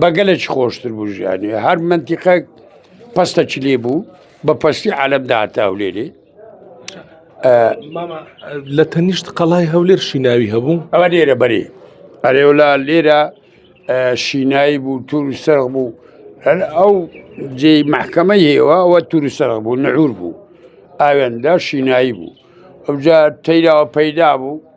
بە گەلێکی خۆشتر بوو ژیانی هەر منتیقە پستەکی لێ بوو بە پستی عالم داهاتە هەولێری لە تەنیشت قەڵای هەولێر شیناوی هەبوو ئەوە لێرە بەری ئەرێولا لێرە شینایی بوو تور سەر بوو هەر ئەو جێ محکەمە هێوە ئەوە تور سەر بوو نەعور بوو ئاوێندا شینایی بوو ئەوجا تەیراوە پەیدا بوو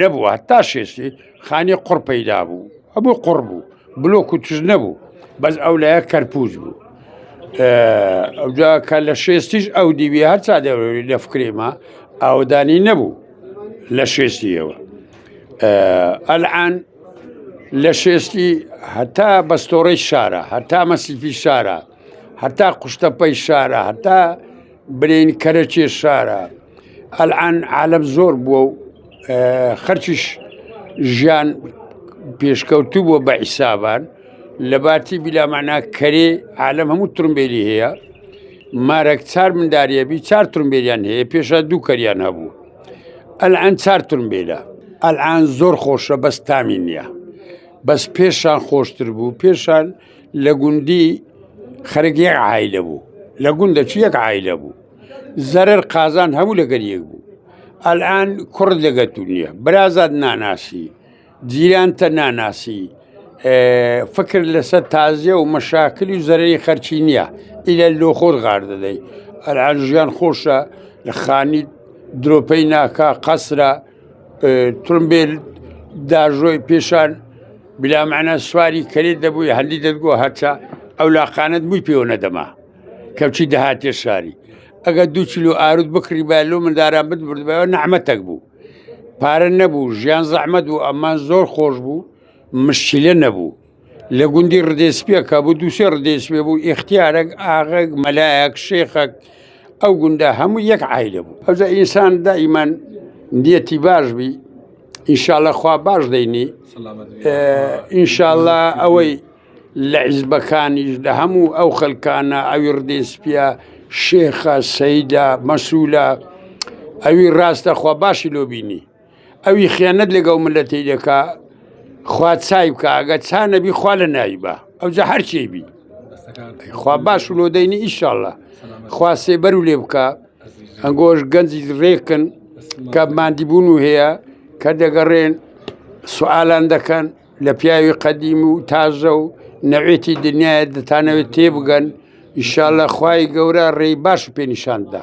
نەبوو هەتا شێستی خانی قڕ پەیدا بوو هەبوو قڕ بوو بلۆک و تژ نەبوو بەس ئەو لایە کەرپوز بوو ئەوجا کە لە شێستیش ئەو دیوی هەرچا دەوری لە فکرێمە ئاودانی نەبوو لە شێستیەوە ئەلعان لە شێستی هەتا بەستۆڕی شارە هەتا مەسیفی شارە هەتا قوشتەپەی شارە هەتا برین کەرەچێ شارە ئەلئان عالەم زۆر بووە و خەرکیش ژیان پێشکەوتوو بووە بە عیسابان لە باتی بیلامانە کەرێ عالەم هەموو ترمبێلی هەیە مارەک چار منداریە بی چار ترمبێلیان هەیە پێشە دوو کەریان هەبوو ئەلئان چار ترمبێلە ئەلان زۆر خۆشە بەس تامی نییە بەس پێشان خۆشتر بوو پێشان لە گوندی خەرگی عیلە بوو لە گوندەچی یەک عیلە بوو زەرەر قازان هەموو لەگەر یەک بوو ئەلئان کوڕ لەگە تو نییە برازاد ناناسی جیرانتە ناناسی فکر لەسەر تازیە و مەشاکری و زەرری خەرچی نییە ئیلە لۆ خۆر غار دەدەی ئەلان ژیان خۆشە لە خانی درۆپەی ناکا قەسرە ترمبێل داژۆی پێشان بلامانە سواری کەێت دەبووی هەندی دەگووە هەرچە ئەو لاقانت بووی پێوە نەدەما کەچی دەهاتێ شاری ئەگە دوو چلو ئاروت بکڕی با لۆ منداران بتبردبەوە نەحمەتەک بوو پارە نەبوو ژیان زەحمەت بوو ئەمان زۆر خۆش بوو مشکلە نەبوو لە گوندی ڕدێسپێکە بوو دووسێ ڕدێسپێ بوو ئختیارەك ئاغک مەلایەک شێخەک ئەو گوندە هەموو یەک عیلە بوو ئەوجا ئینسان دائیمان دیەتی باش بی ئیشاالله خوا باش دەینی ئینشاالله ئەوەی لە حیزبەکانیش لە هەموو ئەو خەلکانە ئەوی ڕدێ سپیە شێخە سەیدە مەسوولە ئەوی ڕاستە خوا باشی لۆ بینی ئەوی خیانەت لەگەڵ ملەتی دەکا خوا چای بکە ئەگە چا نەبی خوا لە ناوی بە ئەوجا هەرچی بی خوا باش و لۆ دەینی ئیشاءله خوا سێبەر و لێ بکە ئەنگۆش گەنجی ڕێکن کە مادیبوون و هەیە کە دەگەڕێن سوالان دەکەن لە پیاوی قەدیم و تازە و نەوێتی دنیاە دەتانەوێت تێبگەن ئیشالە خی گەورە ڕێی باش پێ نیشاندا.